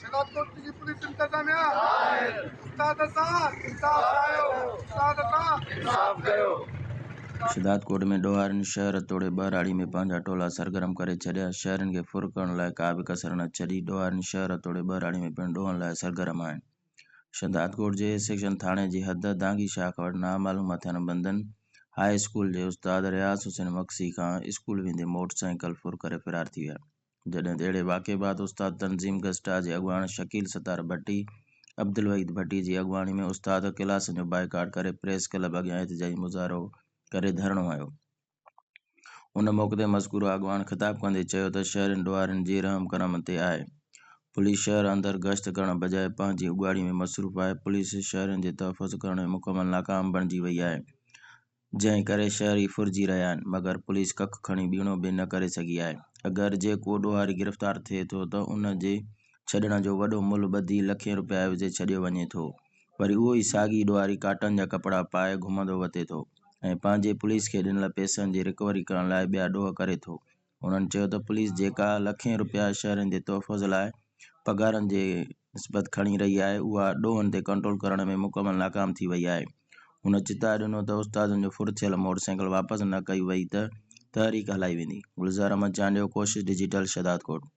سيلابڪوٽ جي پوليس انتظاميا استاد سان انصاف ڪايو استاد سان انصاف ڪيو. شھداد ڪوٽ ۾ ڏوھارين شھر توڙي ٻهراڙي ۾ پنهنجا ٽولا سرگرم ڪري ڇڏيا، شھرين کي ڦر ڪرڻ لاء ڪا به ڪسر نه ڇڏي، ڏوھارين شھر توڙي ٻهراڙي ۾ پڻ ڏوھن لاء سرگرم آھن، شھداد ڪوٽ جي اي سيڪشن ٿاڻي جي حد دانگي شاخ وٽ نامعلوم ھٿيارن بندن ھاء اسڪول جي استاد رياض حسين مگسي کان اسڪول ويندي موٽر سائيڪل ڦر ڪري فرار ٿي ويا. جڏهن ته اهڙي واقعي بعد استاد تنظيم گسٽا جي اڳواڻ شڪيل ستار ڀٽي، عبدالوحيد ڀٽي جي اڳواڻي ۾ استاد ڪلاسن جو بائيڪاٽ ڪري پريس ڪلب اڳيان احتجاجي مظاهرو ڪري ڌرڻو هنيو. ان موقعي تي مذڪوره اڳواڻ خطاب ڪندي چيو ته شهرين ڏوهارين جي رحم ڪرم تي آهي. پوليس شهر اندر گشت ڪرڻ بجاء پنهنجي اڳواڙي ۾ مصروف آهي، پوليس شهرين جي تحفظ ڪرڻ ۾ مڪمل ناڪام بڻجي وئي آهي. جنهن ڪري شهري ڦرجي رهيا آهن مگر پوليس ڪک کڻي ٻيڻو به نه ڪري سگهي آهي. اگر جيڪو ڏوهاري گرفتار ٿئي ٿو ته ان جي ڇڏڻ جو وڏو ملهه ٻڌي لکين رپيا عيوضي ڇڏيو وڃي ٿو. وري اهو ئي ساڳي ڏوهاري ڪاٽن جا ڪپڙا پائي گهمندو وتي ٿو ۽ پنهنجي پوليس کي ڏنل پئسن جي رڪوري ڪرڻ لاء ٻيا ڏوهه ڪري ٿو هنن چيو ته پوليس جيڪا لکين رپيا شهرين جي تحفظ لاء پگهارن جي نسبت کڻي رهي آهي اها ڏوهن تي ڪنٽرول ڪرڻ ۾ مڪمل ناڪام ٿي وئي آهي. هن چتاء ڏنو ته استادن جو ڦر ٿيل موٽر سائيڪل واپس نه ڪئي وئي ته تحريڪ هلائي ويندي. گلزار احمد چانڊيو، ڪوشش ڊجيٽل، شهدادڪوٽ.